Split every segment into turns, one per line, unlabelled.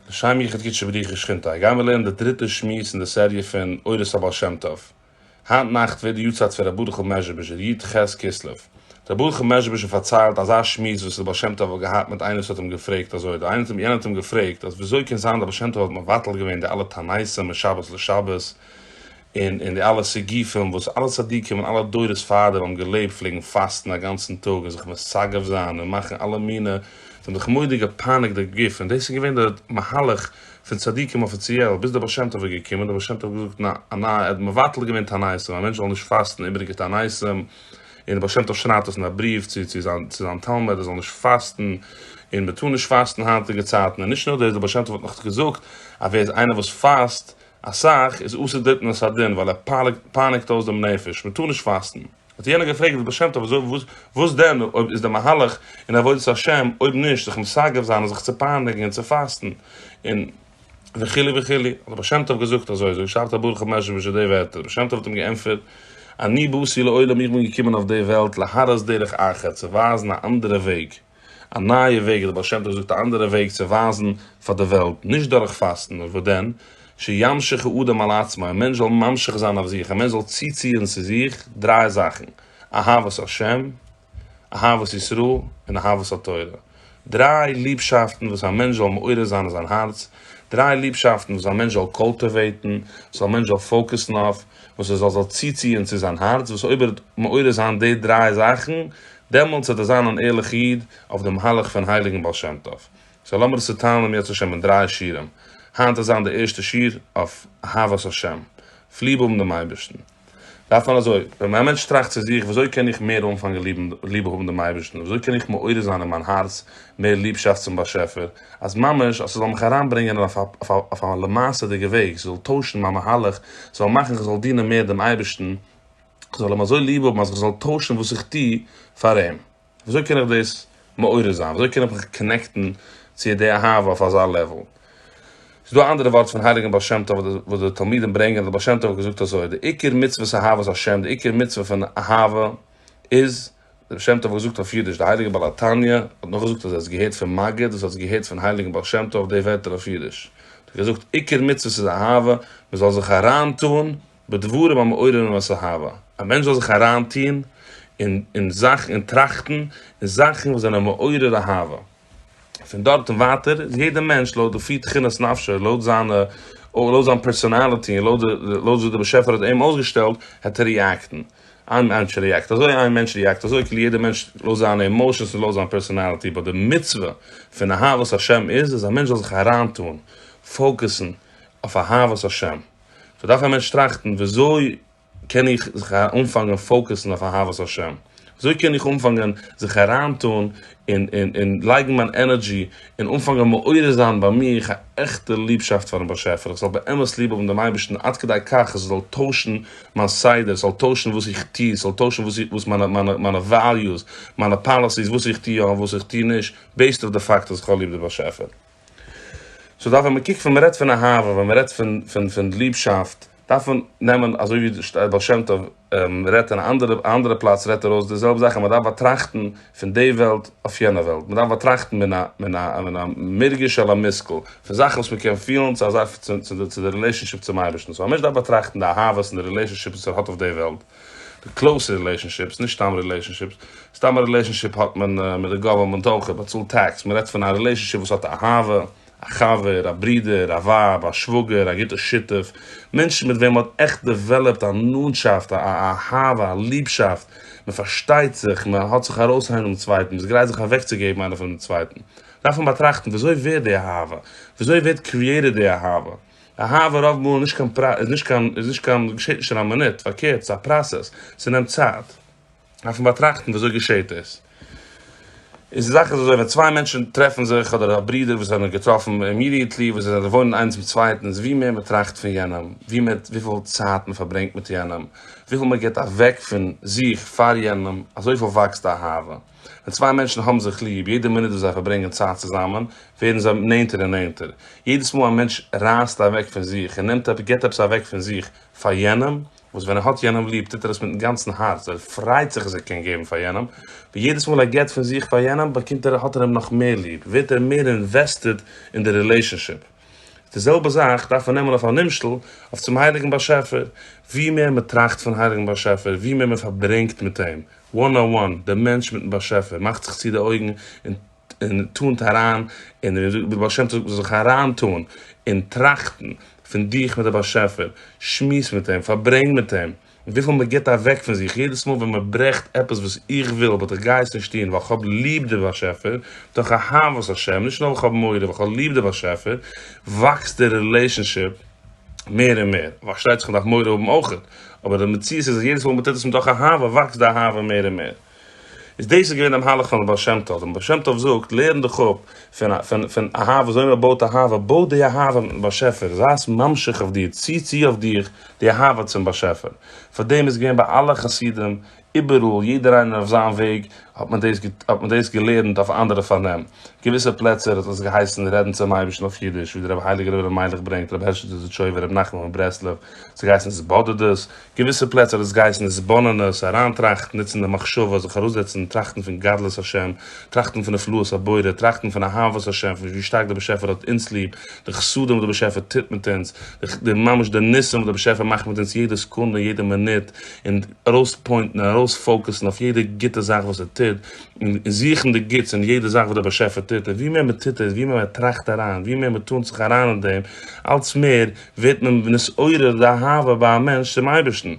לשם יחוד קדשי בריחו שכינתא גייען מיר לערנען די דריטע שמועס אין די סעריע פון אורות הבעל שם טוב. היינט נאכט ווערט די יארצייט פון ר' ברוכ'ל מעזשביז'ער, י ט ח' כסלו. ר' ברוכ'ל מעזשביז'ער פארציילט אזא שמועס וואס דער בעל שם טוב האט געהאט מיט איינער וואס האט אים געפרעגט אזוי דא, איינער יענער האט אים געפרעגט אז וויאזוי קען זיין דער בעל שם טוב האט מבטל געווען די אלע תעניתים משבת לשבת, און און די אלע סיגופים וואס אלע צדיקים און אלע דורות פאר דעם האבן געלעבט פלעגן פאסטן א גאנצן טאג און זיך מסגף זיין און מאכן אלע מינע, זיי האבן זיך מוראדיג געפייניגט די גוף און דאס איז געווען די מהלך פון צדיקים אפיציעל ביז דער בעל שם טוב איז געקומען, דער בעל שם טוב האט געזאגט ניין א ניי ער האט מבטל געווען תעניתים א מענטש זאל נישט פאסטן איבעריגע תעניתים און דער בעל שם טוב שרייבט דאס אין א בריוו צו צו זיין צו זיין תלמיד ער זאל נישט פאסטן און מען טאר נישט פאסטן היינטיגע צייטן און נישט נאר דאס דער בעל שם טוב האט נאך געזאגט אז ווער איז איינער וואס פאסט אסאך איז אסור דארטן און סאדין ווייל ער פייניגט אויס דעם נפש, מען טאר נישט פאסטן. האט יענער געפרעגט די בעל שם טוב וואס דען אויב איז דער מהלך אין עבודת השם אויב נישט זיך מסגף זיין און זיך צו פייניגן און צו פאסטן און וכו' וכו' האט דער בעל שם טוב געזאגט אזוי אזוי שרייבט הברך המעשב ש די ווערטער, דער בעל שם טוב האט אים געענטפערט אני באתי לעולם איך בין געקומען אויף די וועלט להראות דרך אחרת צו ווייזן א אנדערע וועג. א נייע וועג, דער בעל שם טוב זאגט א אנדערע וועג צו ווייזן פאר די וועלט, נישט דורך פאסטן, נאר וואס דען, שימשיך האדם אל עצמו, א מענטש זאל ממשיך זיין אויף זיך, א מענטש זאל צוציען צו זיך דריי זאכן, אהבת השם, אהבת ישראל, און אהבת התורה, דריי ליבשאפטן וואס א מענטש זאל מעורר זיין אין זיין הארץ, דריי ליבשאפטן וואס א מענטש זאל קולטיוועיטן, וואס א מענטש זאל פאוקוסן אויף, וואס ער זאל זיך צוציען צו זיין הארץ, וואס אויב ער וועט מעורר זיין די דריי זאכן, דעמאלטס וועט ער זיין אן ערליך איד אויף די מהלך פון הייליגן בעל שם טוב. סא לאמיר עס צוטיילן אם ירצה השם אין דריי שירים. היינט וועט זיין די ערשטע שיר אויף אהבת השם, אויף ליב האבן דעם אייבערשטן. דארף מען אזוי, ווען א מענטש טראכט צו זיך, וויאזוי קען איך מער אנפאנגען ליב האבן דעם אייבערשטן, וויאזוי קען איך מעורר זיין אין מיין הארץ מער ליבשאפט צום באשעפער, אז ממש אז ס'זאל מיך אריינברענגען אויף א אויף א למעשה'דיגע וועג, ס'זאל טוישן מיין מהלך, ס'זאל מאכן כ'זאל דינען מער דעם אייבערשטן, כ'זאל אים אזוי ליב האבן אז כ'זאל טוישן וואס איך טו פאר אים. וויאזוי קען איך דאס מעורר זיין? וויאזוי קען איך מיך קאנעקטן צו די אהבה אויף אזא לעוול? ס'איז דא א אנדערע ווארט פון הייליגן בעל שם טוב וואס די תלמידים ברענגען אז דער בעל שם טוב האט געזאגט אזוי, די עיקר מצוות אהבת השם, די עיקר מצוה פון אהבה איז, דער בעל שם טוב האט געזאגט אויף אידיש, דער הייליגער בעל התניא האט נאך געזאגט אז ער האט עס געהערט פון מגיד וואס האט עס געהערט פון הייליגן בעל שם טוב די ווערטער אויף אידיש, האט ער געזאגט, עיקר מצוות איז אהבה, מען זאל זיך אריין טון בדברים המעוררים את האהבה, א מענטש זאל זיך אריין טון אין זאכן און טראכטן אין זאכן וואס זענען מעורר אהבה. פון דארט און ווייטער איז יעדער מענטש לויט די פי תכונת נפשו, לויט זיינע, לויט זיין פערסאנאליטי און לויט לויט ווי דער באשעפער האט אים אויסגעשטעלט העט ער ריעקטן. איין מענטש ריעקט אזוי, איין מענטש ריעקט אזוי, כאילו יעדער מענטש לויט זיינע אימאושענס און לויט זיין פערסאנאליטי, באט די מצוה פון אהבת השם איז אז א מענטש זאל זיך אריינטאן, פאוקעסן, אויף אהבת השם. סאו דארף א מענטש טראכטן וויאזוי קען איך זיך אנפאנגען פאוקעסן אויף אהבת השם? וויאזוי קען איך אנפאנגען זיך אריינטון און לייגן מיין ענערדזשי און אנפאנגען מעורר זיין ביי מיך א עכטע ליבשאפט פארן באשעפער, איך זאל באמת ליב האבן דעם אייבערשטן עד כדי כך אז עס זאל טוישן מיין סדר, עס זאל טוישן וואס איך טו, עס זאל טוישן וואס מיינע וועליוס, מיינע פאליסיס, וואס איך טו יא און וואס איך טו נישט, בעיסד אויף די פאקט אז איך האב ליב די באשעפער. סאו דארף ווען מען קוקט ווען מען רעדט פון אהבה, ווען מען רעדט פון ליבשאפט, דארף מען נעמען אזוי ווי דער בעל שם טוב רעדט אין א אנדערע פלאץ רעדט ער אויס די זעלבע זאך אז מען דארף באטראכטן פון די וועלט אויף יענע וועלט, מען דארף באטראכטן מן א מרגש אל המושכל, פון זאכן וואס מען קען פילן צו א זאך צו די רילעישאנשיפ צום אייבערשטן, סאו א מענטש דארף באטראכטן די אהבות און די רילעישאנשיפס וואס ער האט אויף די וועלט, די קלאוזע רילעישאנשיפס, נישט סתם רילעישאנשיפס, סתם א רילעישאנשיפ האט מען מיט די גאווערמענט אויך, ער באצאלט טעקס, מען רעדט פון א רילעישאנשיפ וואס האט אהבה, א חבר, א ברודער, א ווייב, א שוואגער, א גוטע שותף, מענטשן מיט וועם מען האט עכט דעוועלעפט א נאנטשאפט, א אהבה, א ליבשאפט, מען פארשטייט זיך, מען האט זיך ארויס איינער דעם צווייטן, מען איז גרייט זיך אוועקצוגעבן איינער פון דעם צווייטן, דארף מען באטראכטן וויאזוי ווערט די אהבה, וויאזוי ווערט קריעיטעד די אהבה. אהבה רוב מאל איז נישט קיין, געשעט נישט אין א מינוט, פארקערט, ס'איז א פראסעס, ס'נעמט צייט. דארף מען באטראכטן ווי אזוי געשעהט עס. איז די זאך איז אזוי ווען צוויי מענטשן טרעפן זיך אדער א ברודער וואס זענען געטראפן אימידיעטלי וואס זיי זענען וואוינען איינס מיט צווייטן איז ווי מער מען טראכט פון יענעם ווי מער וויפיל צייט מען פארברענגט מיט יענעם וויפיל מען גיבט אוועק פון זיך פאר יענעם אזויפיל וואקסט די אהבה. ווען צוויי מענטשן האבן זיך ליב יעדע מינוט וואס זיי פארברענגען צייט צוזאמען ווערן זיי נענטער און נענטער. יעדעס מאל א מענטש רייסט אוועק פון זיך און נעמט עפעס גיבט עפעס אוועק פון זיך פאר יענעם וואס ווען ער האט יענעם ליב טוט ער עס מיטן גאנצן הארץ, ער פריידט זיך אז ער קען געבן פאר יענעם, ווי יעדעס מאל ער געבט פון זיך פאר יענעם באקומט ער האט ער אים נאך מער ליב, ווערט ער מער אינוועסטעד אין די רילעישאנשיפ. די זעלבע זאך דארף מען נעמען אויף א נמשל אויף צום הייליגן באשעפער, ווי מער מען טראכט פון הייליגן באשעפער, ווי מער מען פארברענגט מיט אים one on one, דער מענטש מיטן באשעפער מאכט זיך צו די אויגן און, און טאָנט אַרײַן אין דער און דער בעל-שם-טובֿ זאָל זיך אַרײַנטאָן אין טראַכטן פֿון דיך מיט דער באַשעפֿער, שמועס מיט אים, פֿאַרברענג מיט אים, װיפֿל מע גיט אַװעק פֿון זיך, יעדעס מאָל װען מע ברעכט עפּעס װאָס איך װיל, באָט איך גײ עס נישט טאָן, װײַל כ'האָב ליב דער באַשעפֿער, דורך אהבֿת השם, נישט נאָר װײַל כ'האָב מורא, װײַל כ'האָב ליב דער באַשעפֿער, װאַקסט דער רילעישאָנשיפּ מער און מער. פֿאַרשטײט זיך, מע דאַרף מורא האָבן אױך, אָבער דער מציאות איז, אַז יעדעס מאָל מע טוט עס מתוך אהבֿה, װאַקסט די אהבֿה מער און מער. איז דאס איז געווען די מהלך פון די בעל שם טוב, און בעל שם טוב זאגט, לערן דיך אפ פון פון פון אהבה, וויאזוי מען בויט אהבה, בוי די אהבה מיטן באשעפער, זיי עס ממשיך אויף דיר, צי צו אויף דיך די אהבה צום באשעפער, פאר דעם איז געווען ביי אלע חסידים, איבעראל, יעדער איינער אויף זיין וועג, האט מען דאס האט מען דאס געלערנט אויף אנדערע פארנעם, געוויסע פלעצער האט עס געהייסן רעדן צום אייבערשטן אויף אידיש, ווי דער רבי הייליגער רבי אלימלך ברענגט, רבי הערשעלע דזשויווער, רבי נחמן מברסלב, עס האט געהייסן התבודדות, געוויסע פלעצער האט עס געהייסן התבוננות, אריינטראכטן, נוצן די מחשבה, זיך ארויסזעצן, טראכטן פון גדלות השם, טראכטן פון נפלאות הבורא, טראכטן פון אהבת השם, פון ווי שטארק דער באשעפער האט אונז ליב, די חסדים וואס דער באשעפער טוט מיט אונז, די ממש די ניסים וואס דער באשעפער מאכט מיט אונז יעדע סעקונדע און יעדע מינוט, און ארויספוינטן און ארויספאוקעסן אויף יעדע גוטע זאך וואס ער טוט, און זוכן די גוטס אין יעדע זאך וואס דער באשעפער טוט, און ווי מער מען טוט עס, ווי מער מען טראכט אריין, ווי מער מען טאנט זיך אריין אין דעם, אלץ מער ווערט מען נתעורר די אהבה ביי א מענטש צום אייבערשטן.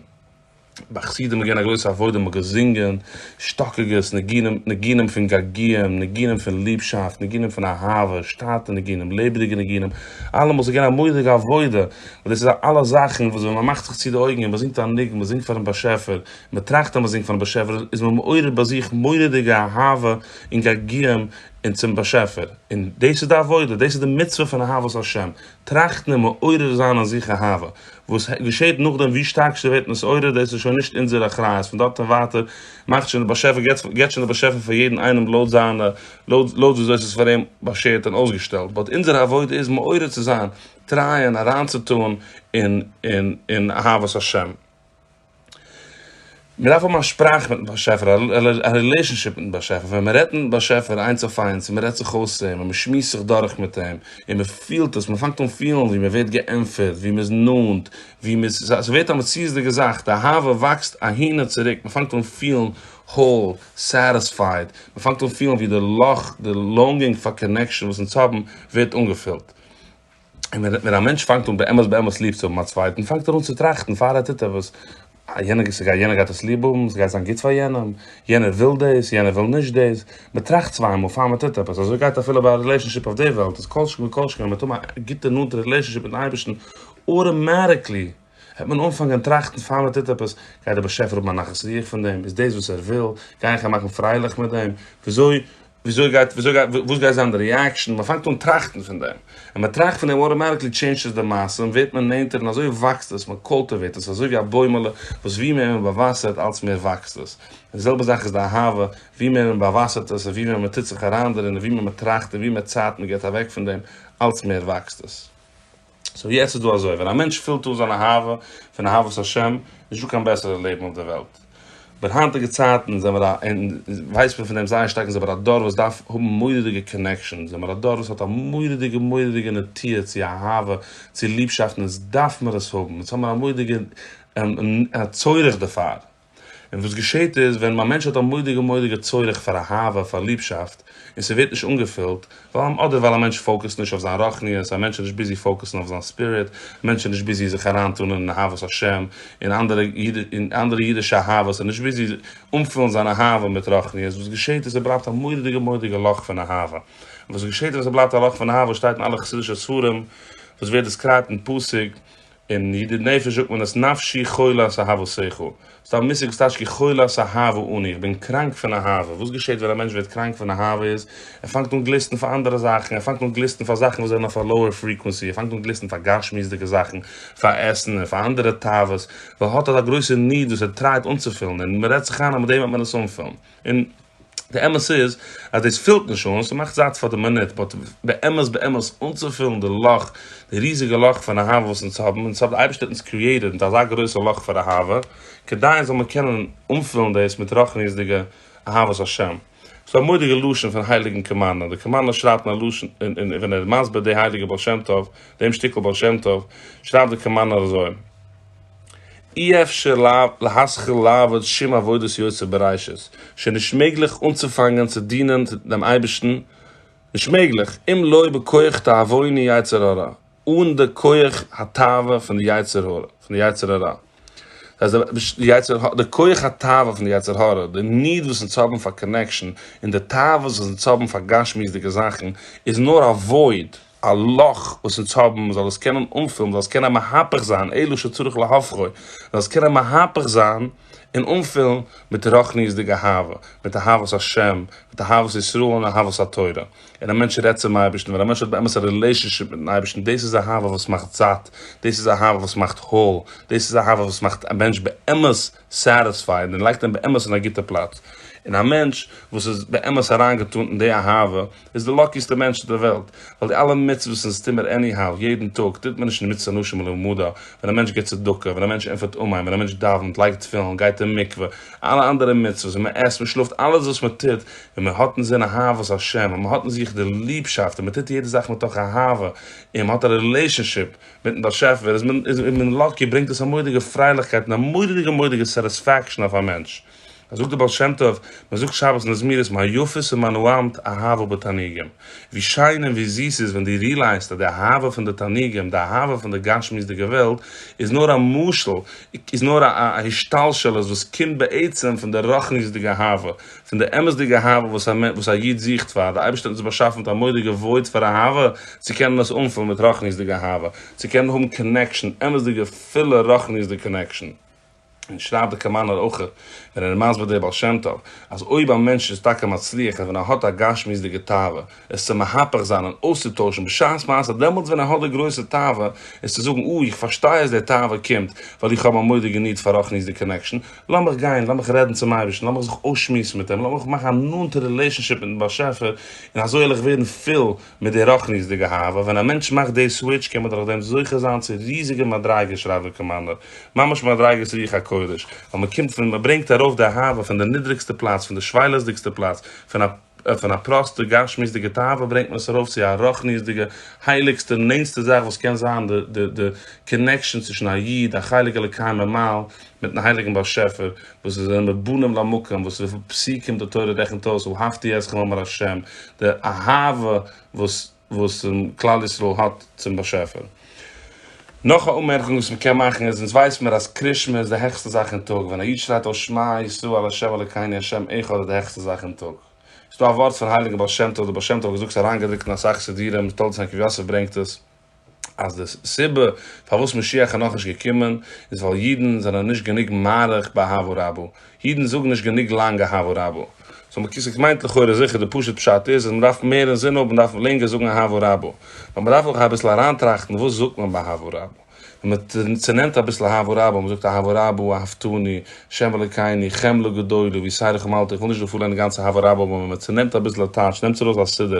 ביי חסידים איז געווען א גרויסע עבודה, מ'האט געזינגען שטאקיגעס ניגונים, ניגונים פון געגועים, ניגונים פון ליבשאפט, ניגונים פון אהבה, שטאטע ניגונים, לעבעדיגע ניגונים, אלעמאל ס'איז געווען א מורא'דיגע עבודה, און דאס איז א אלע זאכן וואס ווען מ'מאכט זיך צו די אויגן און מ'זינגט א ניגון, מ'זינגט פאר'ן באשעפער, מ'טראכט אז מ'זינגט פאר'ן באשעפער, איז מען מעורר ביי זיך מורא'דיגע אהבה און געגועים און צום באשעפער, און דאס איז די עבודה, דאס איז די מצוה פון אהבת השם, טראכטן און מעורר זיין אין זיך אהבה. וואס געשעט נאכדעם ווי שטארק ס'ווערט נתעורר דאס איז שוין נישט אונזער אחריות, פון דארט און ווייטער מאכט שוין דער באשעפער געט שוין דער באשעפער פאר יעדן איינעם לויט זיינע לויט לויט וויאזוי ס'איז פאר אים באשערט און אויסגעשטעלט, באט אונזער עבודה איז מעורר צו זיין, טרייען אריינצוטאן אין אין אין אהבת השם. מען דארף האבן א שפראך מיטן באשעפער, א רילעישאנשיפ מיטן באשעפער, ווען מען רעדט מיטן באשעפער איינס אויף איינס, און מען רעדט זיך אויס צו אים, און מען שמועסט זיך דורך מיט אים, און מען פילט עס, מען פאנגט אן פילן ווי מען ווערט געענטפערט, ווי מען איז נאנט, ווי מען איז, ס'ווערט א מציאות'דיגע זאך, די אהבה וואקסט אהין און צוריק, מען פאנגט אן פילן האול, סעטיספייד, מען פאנגט אן פילן ווי די לאך, די לאנגינג פאר קאנעקשאן וואס אונז האבן, ווערט אנגעפילט. און ווען א מענטש פאנגט אן באמת באמת ליב צו האבן א צווייטן, פאנגט ער אן צו טראכטן פאר ער טוט עפעס, אה, יענער, ס'גייט, יענער גייט עס ליב האבן, ס'גייט זיין גוט פאר יענעם, יענער וויל דאס, יענער וויל נישט דאס, מען טראכט צוויי מאל פאר מען טוט עפעס, אזוי גייט אפילו ביי א רילעישאנשיפ אויף די וועלט, איז כל שכן וכל שכן ווען מען האט האבן א גוטע נאנטע רילעישאנשיפ מיטן אייבערשטן, אוטאמאטיקלי. וועט מען אנפאנגען טראכטן פאר מען טוט עפעס, גייט דער באשעפער האבן א נחת רוח פון דעם? איז דאס וואס ער וויל? גיי איך אים מאכן פרייליך מיט דעם? וויאזוי גייט וואס גייט זיין די ריעקשאן? מען פאנגט אן טראכטן פון דעם, ווען מען טראכט פון דעם אוטאמעטיקלי טשעינדזשעס די מעשה און ווערט מען נענטער און אזוי וואקסט עס, מען קולטיוועיט עס אזוי ווי א בוימעלע וואס ווי מער מען באוואסערט אלץ מער וואקסט עס, די זעלבע זאך איז די אהבה, ווי מער מען באוואסערט עס און ווי מער מען טוט זיך אריין דערין און ווי מער מען טראכט און ווי מער צייט מען גיבט אוועק פון דעם אלץ מער וואקסט עס. סאו יעצט איז דא אזוי, ווען א מענטש פילט אן זיין אהבה פון אהבת השם, נישטא קיין בעסערע לעבן אויף דער וועלט. אבער היינטיגע צייטן זעמער א, און ווייסט מען פון דעם זייער שטארק, זעמער א דור וואס דארף האבן מורא'דיגע קאנעקשאן, זעמער א דור וואס האט א מורא'דיגע מורא'דיגע נטיה צו אהבה, צו ליבשאפט, און עס דארף מיר עס האבן, יעצט האבן מיר א מורא'דיגע צורך דערפאר. און וואס געשעהט איז ווען א מענטש האט א מודיגע מודיגע צורך פאר אהבה פאר ליבשאפט און ס'ווערט נישט אנגעפילט ווייל אדער ווייל א מענטש פאוקעסט נישט אויף זיין רוחניות א מענטש איז נישט ביזי פאוקעסן אויף זיין ספיריט א מענטש איז נישט ביזי זיך אריינטון אין אהבת השם און אנדערע אידישע אהבות איז נישט ביזי אנפילן זיין אהבה מיט רוחניות וואס געשעהט איז ס'בלייבט א מודיגע מודיגע לאך פון אהבה און וואס געשעהט ווען ס'בלייבט א לאך פון אהבה שטייט אין אלע חסידישע ספרים וואס ווערט דעסקרייבט אין פסוק אין ידיד נפש זאגט מען עס נפשי חולת אהבת שכל. ס'איז א מושג וואס טייטש כחולת אהבה אני, איך בין קראנק פון אהבה. וואס געשעהט ווען א מענטש ווערט קראנק פון אהבה איז, ער פאנגט אן גליסטן פאר אנדערע זאכן, ער פאנגט אן גליסטן פאר זאכן וואס זענען אויף א לאוער פריקווענסי, ער פאנגט אן גליסטן פאר גשמיות'דיגע זאכן, פאר עסן און פאר אנדערע תאוות, ווייל ער האט אזא גרויסע ניד וואס ער טרייט אנצופילן, און מ'רעדט זיך איין אז מיט דעם וועט מען עס אנפילן. און די אמת איז אז דאס פילט נישט אן, ס'מאכט זאט פאר די מינוט, באט באמת באמת אנצופילן די לאך, די ריזיגע לאך פון אהבה וואס אונז האבן, אונז האט די אייבערשטער אונז קריעיטעד מיט אזא גרויסע לאך פאר אהבה, כדי זאל מען קענען אנפילן דאס מיט רחניות'דיגע אהבת השם. ס'איז א מורא'דיגע לשון פון הייליגן קמנא, די קמנא שרייבט אין א לשון, און ווען ער איז מסביר די הייליגע בעל שם טוב, דעם שטיקל בעל שם טוב, שרייבט די קמנא אזוי. אי אפשר להתחיל לעבוד שום עבודת יוצר בראשית, שוין נישט מעגליך אנצופאנגען צו דינען דעם אייבערשטן, נישט מעגליך, אם לא בכח תאוויני יצר הרע, אן די כח התאווה פון די יצר הרע, פון די יצר הרע, דאס הייסט די כח התאווה פון די יצר הרע, די ניד וואס אונז האבן פאר קאנעקשאן, און די תאוות וואס אונז האבן פאר גשמיות'דיגע זאכן, איז נאר א וואויד. א לאך וואס אונז האבן, מען זאל עס קענען אנפילן, מען זאל עס קענען מהפך זיין אלו שצריך להפכו, מען זאל עס קענען מהפך זיין און אנפילן מיט רוחניות'דיגע אהבה, מיט אהבת השם, מיט אהבת ישראל און אהבת התורה, און א מענטש רעדט צום אייבערשטן, ווען א מענטש האט באמת א רילעישאנשיפ מיטן אייבערשטן, דאס איז אהבה וואס מאכט זאט, דאס איז אהבה וואס מאכט הויל, דאס איז אהבה וואס מאכט א מענטש באמת סעטיספייד און לייגט אים באמת אין א גוטע פלאץ, און א מענטש וואס איז באמת אריינגעטון אין די אהבה, איז די לאקיסטע מענטש אויף דער וועלט, ווייל די אלע מצוות און סתימער עניהאו, יעדן טאג, טוט מען נישט אין מצוה אנשים מלומדה, ווען א מענטש גיט צדקה, ווען א מענטש ענטפערט אמן, ווען א מענטש דאווענט, לייגט תפילין, גייט אין מקווה, אלע אנדערע מצוות, ווען מען עסט, מען שלאפט, אלעס וואס מען טוט, ווען מען האט אין זין אהבת השם, ווען מען האט אין זיך די ליבשאפט, און מען טוט יעדע זאך מתוך אהבה, און מען האט א רילעישאנשיפ מיטן באשעפער, איז מען לאקי, ברענגט עס א מורא'דיגע פרייליכקייט און א מורא'דיגע מורא'דיגע סעטיספעקשאן אויף א מענטש. אז זאגט דער בעל שם טוב, מען זאגט שבת אין די זמירות מה יפה ס'מה נעימת אהבה בתעניגים, ווי שיין און ווי זיס ס'איז ווען דו רילייזט אז די אהבה פון די תעניגים, די אהבה פון די גשמיות'דיגע וועלט, איז נאר א משל, איז נאר א השתלשלות וואס קומט בעצם פון די רוחניות'דיגע אהבה, פון די אמת'דיגע אהבה וואס א מענ וואס א איד זוכט פאר, די אייבערשטער האט אונז באשאפן מיט א מורא'דיגע וואויד פאר אהבה, צו קענען עס אנפילן מיט רוחניות'דיגע אהבה, צו קענען האבן קאנעקשאן, אמת'דיגע פילע רוחניות'דיגע קאנעקשאן. און שרייבט די קאמאנער אויך ווען ער איז מסביר דער בעל שם טוב אז אויב א מענטש איז טאקע מצליח און ווען ער האט א גשמיות'דיגע תאווה עס צו מהפך זיין און אויסצוטוישן בשעת מעשה דעמאלטס ווען ער האט די גרויסע תאווה איז צו זאגן אוי איך פארשטיי אז די תאווה קומט ווייל איך האב א מדה געניט פאר רחניות'דיג קאנעקשאן לאמיך גיין לאמיך רעדן צום אייבערשטן לאמיך זיך אויסשמועסן מיט אים לאמיך מאכן א נאנטע רילעישאנשיפ מיטן באשעפער און אזוי העל איך ווערן פיל מיט די רוחניות'דיגע האווא, ווען א מענטש מאכט די סוויטש קען מען דורך דעם זוכה זיין צו ריזיגע מדריגות שרייבט דער קאמאנדער, ממש מדריגות רוח הקודש, ווייל מען קומט פון, מען ברענגט ארויף די האווא פון די נידריגסטע פלאץ, פון די שפילות'דיגסטע פלאץ, פון א פון א פראסטע גשמיות'דיגע תאווה ברענגט מען עס ארויף צו א רוחניות'דיגע הייליגסטע און נענסטע זאך וואס קען זיין, די די די קאנעקשאן צווישן א איד, א חלק אלוקי ממעל, מיטן הייליגן באשעפער, וואס זיי זענען מבנים למקום, וואס וויפיל פסוקים די תורה רעכנט אויס אהבתי אתכם אמר השם, די אהבה וואס וואס כלל ישראל האט צום באשעפער. נאך א אנמערקונג וואס מען קען מאכן איז, אונז ווייס מיר אז קריש מע איז די העכסטע זאך אין טאג, ווען א איד שרייט אויס שמע ישראל השם אלקינו השם אחד איז די העכסטע זאך אין טאג. ס'איז דא א ווארט פון הייליגן בעל שם טוב, דער בעל שם טוב האט געזאגט ס'איז אריינגעדרוקט אין אסאך סידורים, תולדות הנקב יוסף ברענגט עס, אז די סיבה פארוואס משיח איז נאכנישט געקומען איז ווייל אידן זענען נישט גענוג מאריך באהבה רבה, אידן זאגן נישט גענוג לאנג אהבה רבה. סאו מקיסק מיינט לכאורה זיכער די פשוט פשט איז אז מ'דארף מער אינזין האבן מ'דארף לענגער זאגן אהבה רבה. נאר מ'דארף אויך אביסל אריינטראכטן וואס זאגט מען ביי אהבה רבה. ווען מ'צונעמט אביסל אהבה רבה, מ'זאגט אהבה רבה, אהבתני, שם אלוקינו, חמלה גדולה, ויסערך ומלתי, כ'וויל נישט דא פארלערנען די גאנצע אהבה רבה אבער ווען מ'צונעמט אביסל א טייטש, נעמטס ארויס א סידור,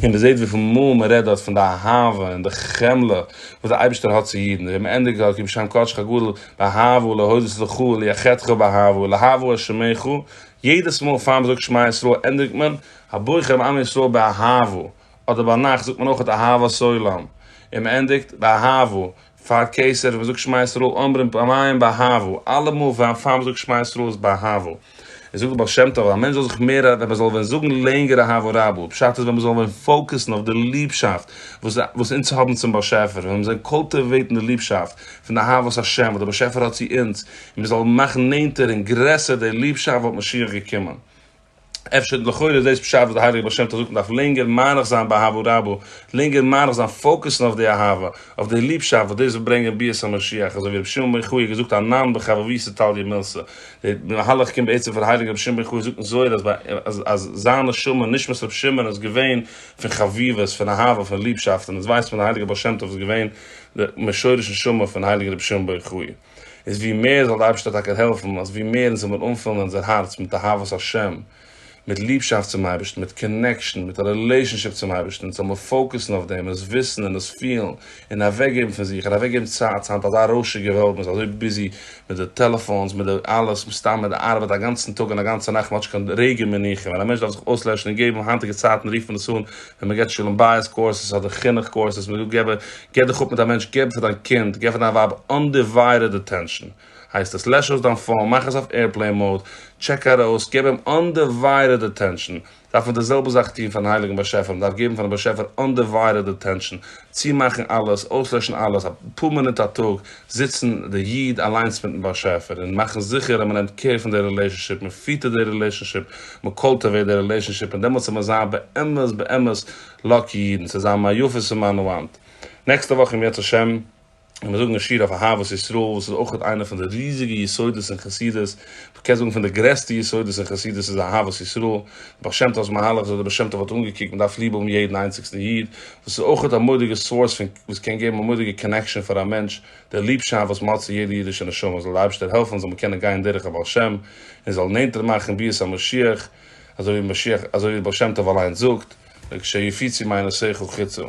און מען זעט וויפיל מאל מען רעדט דארט פון די אהבה און די חמלה וואס דער אייבערשטער האט צו אידן, און מען ענדיגט דארט כי בשם קדשך הגדול באהבה להודות לך וליחדך באהבה להבא את שמך, יעדעס מאל פאר מען זאגט שמע ישראל ענדיגט מען הברך את עם ישראל באהבה, אדער ביינאכט זאגט מען אויך אהבת עולם און מען ענדיגט באהבה, פאר קיסר וואס זאגט שמע ישראל אומרים פעמיים באהבה, אלע מאל פאר פאר מ'זאגט שמע ישראל איז באהבה. און זאגט דער בעל שם טוב, א מענטש זאל זיך מער ווען מ'זאל ווען זאגן לענגער אהבה רבה, פשט איז ווען מ'זאל ווען פאוקעסן אויף די ליבשאפט וואס וואס אונז האבן צום באשעפער, ווען מ'זאל קולטיוועיטן די ליבשאפט פון די אהבת השם וואס דער באשעפער האט צו אונז, און מ'זאל מאכן נענטער און גרעסער די ליבשאפט וואלט משיח געקומען. אפשר לכאורה איז דאס פשט וואס די הייליגע בעל שם טוב זאגט מ'דארף לענגער מאריך זיין באהבה רבה, לענגער מאריך זיין פאוקעסן אויף די אהבה, אויף די ליבשאפט וואס דאס וועט ברענגען ביאת המשיח, אזוי ווי רבי שמעון בן יחיא האט געזאגט אנן בחבבי סטליה מילסא, די מהלך קומט בעצם פון הייליגן רבי שמעון בן יחיא זאגט אין זוהר אז ביי אז זיין נשמה נשמת רבי שמעון איז געווען פון חביבות פון אהבה פון ליבשאפט און אונז ווייסט מען אז די הייליגע בעל שם טוב איז געווען די משורש נשמה פון הייליגן רבי שמעון בן יחיא. איז ווי מער זאל די אייבערשטער טאקע העלפן אז ווי מער אונז זאל מיר אנפילן אונזער הארץ מיט אהבת השם, מיט ליבשאפט צום אייבערשטן, מיט קאנעקשאן, מיט א רילעישאנשיפ צום אייבערשטן, אונז זאל מיר פאוקוסן אויף דעם און עס וויסן און עס פילן, און אוועק געבן פון זיך, און אוועק געבן צייט, ס'היינט אזא רוישיגע וועלט, מען איז אזוי ביזי מיט די טעלעפאונס, מיט די אלעס, מיט סתם מיט די ארבעט א גאנצן טאג און א גאנצע נאכט, מען האט נישט קיין רגע מנוחה, ווען א מענטש דארף זיך אויסלעשן און געבן היינטיגע צייטן רופט מען עס אן ווען מען געבט שלום בית קורסעס אדער חינוך קורסעס, מען איז דא געבער, געב דיך אפ מיט א מענטש, געב פאר דיין קינד, געב פאר דיין ווייב אנדיוויידעד אטענשאן, הייסט עס, לעש אויס דיין פאון, מאך עס אויף עירפלעין מאוד, טשעק ארויס, געב אים אנדיוויידעד אטענשאן, דארף מען די זעלבע זאך טון פארן הייליגן באשעפער, מען דארף געבן פארן באשעפער אנדיוויידעד אטענשאן, צומאכן אלעס, אויסלעשן אלעס, אפאר מינוט א טאג זיצן די איד אליינס מיטן באשעפער און מאכן זיכער אז מ'נעמט קעיר פון די רילעשאנשיפ, מ'פיטערט די רילעשאנשיפ, מ'קולטעוועט די רילעשאנשיפ און דעמאלטס וועט מען זיין באמת באמת לאקי אידן, ס'איז א מה יפית ומה נעימת. נעקסטע וואך אם ירצה השם. קען מען זאגן א שיעור אויף אהבת ישראל וואס איז אויכעט איינע פון די ריזיגע יסודות אין חסידות, מ'קען זאגן פון די גרעסטע יסודות אין חסידות איז אהבת ישראל, די בעל שם טוב'ס מהלך זאל דער בעל שם טוב האט אנגעקוקט מ'דארף ליב האבן יעדן איינציגסטן איד, וואס איז אויכעט א מורא'דיגע סאורס פון וואס קען געבן א מורא'דיגע קאנעקשאן פאר א מענטש, די ליבשאפט וואס מ'האט צו יעדע אידישע נשמה זאל די אייבערשטער העלפן זאל מען קענען גיין דורך א בעל שם און זאל נענטער מאכן ביאת המשיח, אזוי ווי משיח אזוי ווי בעל שם טוב אליינס זאגט, וכשהיפיצי מעיינות שכל חיצו.